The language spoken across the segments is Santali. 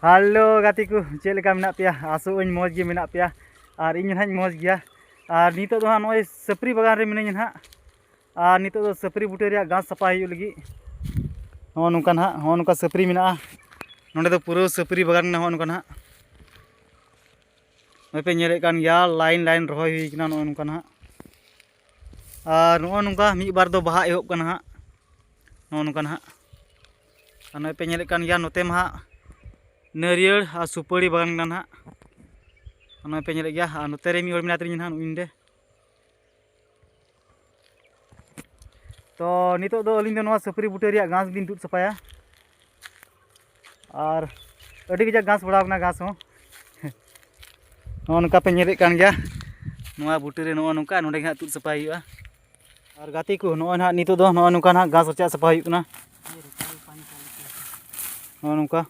ᱦᱮᱞᱳ ᱜᱟᱛᱮ ᱠᱚ ᱪᱮᱫ ᱞᱮᱠᱟ ᱢᱮᱱᱟᱜ ᱯᱮᱭᱟ ᱟᱥᱚᱜ ᱟᱹᱧ ᱢᱚᱡᱽ ᱜᱮ ᱢᱮᱱᱟᱜ ᱯᱮᱭᱟ ᱟᱨ ᱤᱧ ᱦᱚᱸ ᱱᱟᱦᱟᱜ ᱢᱚᱡᱽ ᱜᱮᱭᱟ ᱟᱨ ᱱᱤᱛᱚᱜ ᱫᱚ ᱦᱟᱸᱜ ᱱᱚᱜᱼᱚᱭ ᱥᱟᱹᱯᱨᱤ ᱵᱟᱜᱟᱱ ᱨᱮ ᱢᱤᱱᱟᱹᱧᱟ ᱱᱟᱦᱟᱜ ᱟᱨ ᱱᱤᱛᱚᱜ ᱫᱚ ᱥᱟᱹᱯᱨᱤ ᱵᱩᱴᱟᱹ ᱨᱮᱭᱟᱜ ᱜᱷᱟᱥ ᱥᱟᱯᱷᱟ ᱦᱩᱭᱩᱜ ᱞᱟᱹᱜᱤᱫ ᱱᱚᱜᱼᱚ ᱱᱚᱝᱠᱟ ᱱᱟᱦᱟᱜ ᱱᱚᱜᱼᱚ ᱱᱚᱝᱠᱟ ᱥᱟᱹᱯᱨᱤ ᱢᱮᱱᱟᱜᱼᱟ ᱱᱚᱸᱰᱮ ᱫᱚ ᱯᱩᱨᱟᱹ ᱥᱟᱹᱯᱨᱤ ᱵᱟᱜᱟᱱ ᱠᱟᱱᱟ ᱱᱚᱜᱼᱚ ᱱᱚᱝᱠᱟ ᱱᱟᱦᱟᱜ ᱱᱚᱜᱼᱚᱭ ᱯᱮ ᱧᱮᱞᱮᱫ ᱠᱟᱱ ᱜᱮᱭᱟ ᱞᱟᱭᱤᱱ ᱞᱟᱭᱤᱱ ᱨᱚᱦᱚᱭ ᱦᱩᱭ ᱠᱟᱱᱟ ᱱᱚᱜᱼᱚ ᱱᱚᱝᱠᱟ ᱱᱟᱦᱟᱜ ᱟᱨ ᱱᱚᱜᱼᱚ ᱱᱚᱝᱠᱟ ᱢᱤᱫ ᱵᱟᱨ ᱫᱚ ᱵᱟᱦᱟ ᱮᱦᱚᱵ ᱠᱟᱱᱟ ᱦᱟᱸᱜ ᱱᱚᱜᱼᱚ ᱱᱚᱝᱠᱟ ᱱᱟᱦᱟᱜ ᱟᱨ ᱱᱚᱜᱼᱚᱭ ᱯᱮ ᱧᱮᱞᱮᱫ ᱠᱟᱱ ᱜᱮᱭᱟ ᱱᱚᱛᱮ ᱢᱟ ᱦᱟᱸᱜ ᱱᱟᱹᱨᱤᱭᱟᱹᱲ ᱟᱨ ᱥᱩᱯᱟᱹᱲᱤ ᱵᱟᱜᱟᱱ ᱠᱟᱱᱟ ᱱᱟᱦᱟᱜ ᱱᱚᱜᱼᱚᱭ ᱯᱮ ᱧᱮᱞᱮᱫ ᱜᱮᱭᱟ ᱟᱨ ᱱᱚᱛᱮ ᱨᱮ ᱢᱤᱫ ᱦᱚᱲ ᱢᱮᱱᱟᱭ ᱛᱟᱹᱞᱤᱧᱟ ᱱᱟᱦᱟᱜ ᱱᱩᱭ ᱱᱚᱰᱮ ᱛᱚ ᱱᱤᱛᱚᱜ ᱫᱚ ᱟᱹᱞᱤᱧ ᱫᱚ ᱱᱚᱣᱟ ᱥᱟᱹᱯᱟᱹᱨᱤ ᱵᱩᱴᱟᱹ ᱨᱮᱭᱟᱜ ᱜᱷᱟᱥ ᱞᱤᱧ ᱛᱩᱫ ᱥᱟᱯᱷᱟᱭᱟ ᱟᱨ ᱟᱹᱰᱤ ᱠᱟᱡᱟᱠ ᱜᱷᱟᱥ ᱵᱟᱲᱟᱣ ᱠᱟᱱᱟ ᱜᱷᱟᱥ ᱦᱚᱸ ᱱᱚᱜᱼᱚ ᱱᱚᱝᱠᱟ ᱯᱮ ᱧᱮᱞᱮᱫ ᱠᱟᱱ ᱜᱮᱭᱟ ᱱᱚᱣᱟ ᱵᱩᱴᱟᱹ ᱨᱮ ᱱᱚᱜᱼᱚ ᱱᱚᱝᱠᱟ ᱱᱚᱰᱮ ᱜᱮ ᱦᱟᱸᱜ ᱛᱩᱫ ᱥᱟᱯᱷᱟᱭ ᱦᱩᱭᱩᱜᱼᱟ ᱟᱨ ᱜᱟᱛᱮ ᱠᱚ ᱱᱚᱜᱼᱚᱭ ᱱᱟᱦᱟᱜ ᱱᱤᱛᱚᱜ ᱫᱚ ᱱᱚᱜᱼᱚ ᱱᱚᱝᱠᱟ ᱱᱟᱦᱟᱜ ᱜᱷᱟᱥ ᱨᱟᱪᱟᱜ ᱥᱟᱯᱷᱟ ᱦᱩᱭᱩᱜ ᱠᱟᱱᱟ ᱱᱚᱜᱼᱚ ᱱᱚᱝᱠᱟ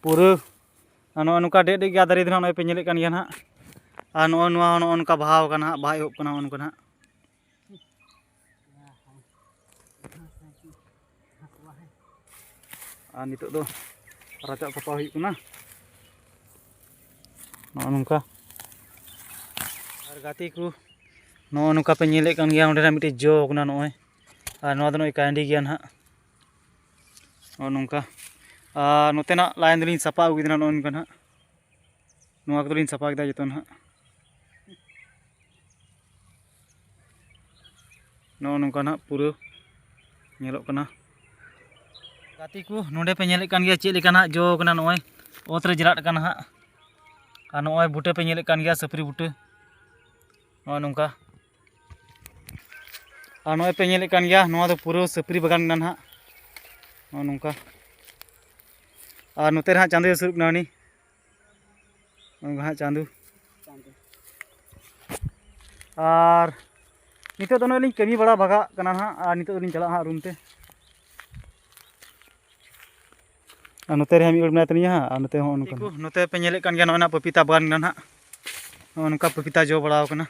ᱯᱩᱨᱟᱹ ᱱᱚᱜᱼᱚ ᱱᱚᱝᱠᱟ ᱰᱮᱜ ᱰᱮᱜ ᱜᱮᱭᱟ ᱫᱟᱨᱮ ᱫᱚ ᱱᱚᱜᱼᱚᱭ ᱯᱮ ᱧᱮᱞᱮᱫ ᱠᱟᱱ ᱜᱮᱭᱟ ᱱᱟᱦᱟᱜ ᱟᱨ ᱱᱚᱜᱼᱚ ᱱᱚᱣᱟ ᱦᱚᱸ ᱱᱚᱜᱼᱚ ᱱᱚᱝᱠᱟ ᱵᱟᱦᱟᱣ ᱠᱟᱱᱟ ᱦᱟᱸᱜ ᱵᱟᱦᱟ ᱮᱦᱚᱵ ᱠᱟᱱᱟ ᱱᱚᱜᱼᱚ ᱱᱚᱝᱠᱟ ᱱᱟᱦᱟᱜ ᱟᱨ ᱱᱤᱛᱚᱜ ᱫᱚ ᱨᱟᱪᱟ ᱥᱟᱯᱷᱟ ᱦᱩᱭᱩᱜ ᱠᱟᱱᱟ ᱱᱚᱜᱼᱚ ᱱᱚᱝᱠᱟ ᱟᱨ ᱜᱟᱛᱮ ᱠᱚ ᱱᱚᱜᱼᱚ ᱱᱚᱝᱠᱟ ᱯᱮ ᱧᱮᱞᱮᱫ ᱠᱟᱱ ᱜᱮᱭᱟ ᱚᱸᱰᱮᱱᱟᱜ ᱢᱤᱫᱴᱮᱡ ᱡᱚ ᱠᱟᱱᱟ ᱱᱚᱜᱼᱚᱭ ᱟᱨ ᱱᱚᱣᱟ ᱫᱚ ᱱᱚᱜᱼᱚᱭ ᱠᱟᱭᱱᱰᱤ ᱜᱮᱭᱟ ᱱᱟᱦᱟᱜ ᱱᱚᱜᱼᱚ ᱱᱚᱝᱠᱟ ᱟᱨ ᱱᱚᱛᱮᱱᱟᱜ ᱞᱟᱭᱤᱱ ᱫᱚᱞᱤᱧ ᱥᱟᱯᱷᱟ ᱟᱹᱜᱩ ᱠᱮᱫᱟ ᱱᱚᱜᱼᱚ ᱱᱚᱝᱠᱟ ᱱᱟᱦᱟᱜ ᱱᱚᱣᱟ ᱠᱚᱫᱚᱞᱤᱧ ᱥᱟᱯᱷᱟ ᱠᱮᱫᱟ ᱡᱚᱛᱚ ᱱᱟᱦᱟᱜ ᱱᱚᱜᱼᱚ ᱱᱚᱝᱠᱟ ᱱᱟᱜ ᱯᱩᱨᱟᱹ ᱧᱮᱞᱚᱜ ᱠᱟᱱᱟ ᱜᱟᱛᱮ ᱠᱚ ᱱᱚᱰᱮ ᱯᱮ ᱧᱮᱞᱮᱫ ᱠᱟᱱ ᱜᱮᱭᱟ ᱪᱮᱫ ᱞᱮᱠᱟ ᱱᱟᱜ ᱡᱚ ᱠᱟᱱᱟ ᱱᱚᱜᱼᱚᱭ ᱚᱛ ᱨᱮ ᱡᱮᱨᱟᱜ ᱠᱟᱱᱟ ᱦᱟᱸᱜ ᱟᱨ ᱱᱚᱜᱼᱚᱭ ᱵᱩᱴᱟᱹ ᱯᱮ ᱧᱮᱞᱮᱫ ᱠᱟᱱ ᱜᱮᱭᱟ ᱥᱟᱹᱯᱨᱤ ᱵᱩᱴᱟᱹ ᱱᱚᱜᱼᱚᱭ ᱱᱚᱝᱠᱟ ᱟᱨ ᱱᱚᱜᱼᱚᱭ ᱯᱮ ᱧᱮᱞᱮᱫ ᱠᱟᱱ ᱜᱮᱭᱟ ᱱᱚᱣᱟ ᱫᱚ ᱯᱩᱨᱟᱹ ᱥᱟᱹᱯᱨᱤ ᱵᱟᱜᱟᱱ ᱠᱟᱱᱟ ᱱᱟᱦᱟᱜ ᱱᱚᱜᱼᱚ ᱱᱚᱝᱠᱟ ᱟᱨ ᱱᱚᱛᱮ ᱨᱮ ᱦᱟᱸᱜ ᱪᱟᱸᱫᱚᱭ ᱦᱟᱹᱥᱩᱨᱚᱜ ᱠᱟᱱᱟ ᱩᱱᱤ ᱩᱱᱠᱩ ᱦᱟᱸᱜ ᱪᱟᱸᱫᱩ ᱟᱨ ᱱᱤᱛᱚᱜ ᱫᱚ ᱱᱚᱜᱼᱚᱭ ᱞᱤᱧ ᱠᱟᱹᱢᱤ ᱵᱟᱲᱟ ᱵᱷᱟᱜᱟᱜ ᱠᱟᱱᱟ ᱦᱟᱸᱜ ᱟᱨ ᱱᱤᱛᱚᱜ ᱫᱚᱞᱤᱧ ᱪᱟᱞᱟᱜᱼᱟ ᱦᱟᱸᱜ ᱨᱩᱢ ᱛᱮ ᱟᱨ ᱱᱚᱛᱮ ᱨᱮ ᱢᱤᱫ ᱦᱚᱲ ᱢᱮᱱᱟᱭ ᱛᱟᱹᱞᱤᱧᱟ ᱦᱟᱸᱜ ᱟᱨ ᱱᱚᱛᱮ ᱦᱚᱸ ᱚᱱᱠᱟ ᱱᱚᱛᱮ ᱯᱮ ᱧᱮᱞᱮᱫ ᱠᱟᱱ ᱜᱮᱭᱟ ᱱᱚᱜᱼᱚᱭ ᱱᱟᱜ ᱯᱟᱯᱤᱛᱟ ᱵᱟᱜᱟᱱ ᱠᱟᱱᱟ ᱦᱟᱸᱜ ᱱᱚᱜᱼᱚ ᱱᱚᱝᱠᱟ ᱯᱟᱯᱤᱛᱟ ᱡᱚ ᱵᱟᱲᱟᱣ ᱠᱟᱱᱟ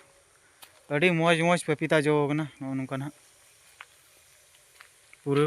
ᱟᱹᱰᱤ ᱢᱚᱡᱽ ᱢᱚᱡᱽ ᱯᱟᱯᱤᱛᱟ ᱡᱚ ᱠᱟᱱᱟ ᱱᱚᱜᱼᱚ ᱱᱚᱝᱠᱟ ᱦᱟᱸᱜ ᱯᱩᱨᱟᱹ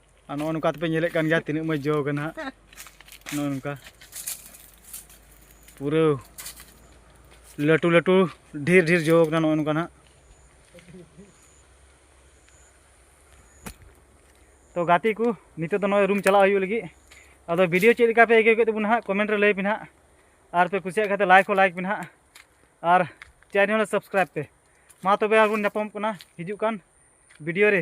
ᱟᱨ ᱱᱚᱜᱼᱚ ᱱᱚᱝᱠᱟ ᱛᱮᱯᱮ ᱧᱮᱞᱮᱫ ᱠᱟᱱ ᱜᱮᱭᱟ ᱛᱤᱱᱟᱹᱜ ᱢᱚᱡᱽ ᱡᱚ ᱠᱟᱱᱟ ᱦᱟᱸᱜ ᱱᱚᱜᱼᱚ ᱱᱚᱝᱠᱟ ᱯᱩᱨᱟᱹ ᱞᱟᱹᱴᱩ ᱞᱟᱹᱴᱩ ᱰᱷᱮᱨ ᱰᱷᱮᱨ ᱡᱚ ᱠᱟᱱᱟ ᱱᱚᱜᱼᱚ ᱱᱚᱝᱠᱟ ᱦᱟᱸᱜ ᱛᱚ ᱜᱟᱛᱮ ᱠᱚ ᱱᱤᱛᱚᱜ ᱫᱚ ᱱᱚᱜᱼᱚᱭ ᱨᱩᱢ ᱪᱟᱞᱟᱜ ᱦᱩᱭᱩᱜ ᱞᱟᱹᱜᱤᱫ ᱟᱫᱚ ᱵᱷᱤᱰᱤᱭᱳ ᱪᱮᱫ ᱞᱮᱠᱟ ᱯᱮ ᱟᱹᱭᱠᱟᱹᱣ ᱠᱮᱫ ᱛᱟᱵᱚᱱᱟ ᱦᱟᱸᱜ ᱠᱚᱢᱮᱱᱴ ᱨᱮ ᱞᱟᱹᱭ ᱯᱮ ᱦᱟᱸᱜ ᱟᱨ ᱯᱮ ᱠᱩᱥᱤᱭᱟᱜ ᱠᱷᱟᱱ ᱞᱟᱭᱤᱠ ᱦᱚᱸ ᱞᱟᱭᱤᱠ ᱯᱮ ᱦᱟᱸᱜ ᱟᱨ ᱪᱮᱱᱮᱞ ᱥᱟᱵᱥᱠᱨᱟᱭᱤᱵ ᱯᱮ ᱢᱟ ᱛᱚᱵᱮ ᱟᱨᱵᱚᱱ ᱧᱟᱯᱟᱢᱚᱜ ᱠᱟᱱᱟ ᱦᱤᱡᱩᱜ ᱠᱟᱱ ᱵᱷᱤᱰᱤᱭᱳ ᱨᱮ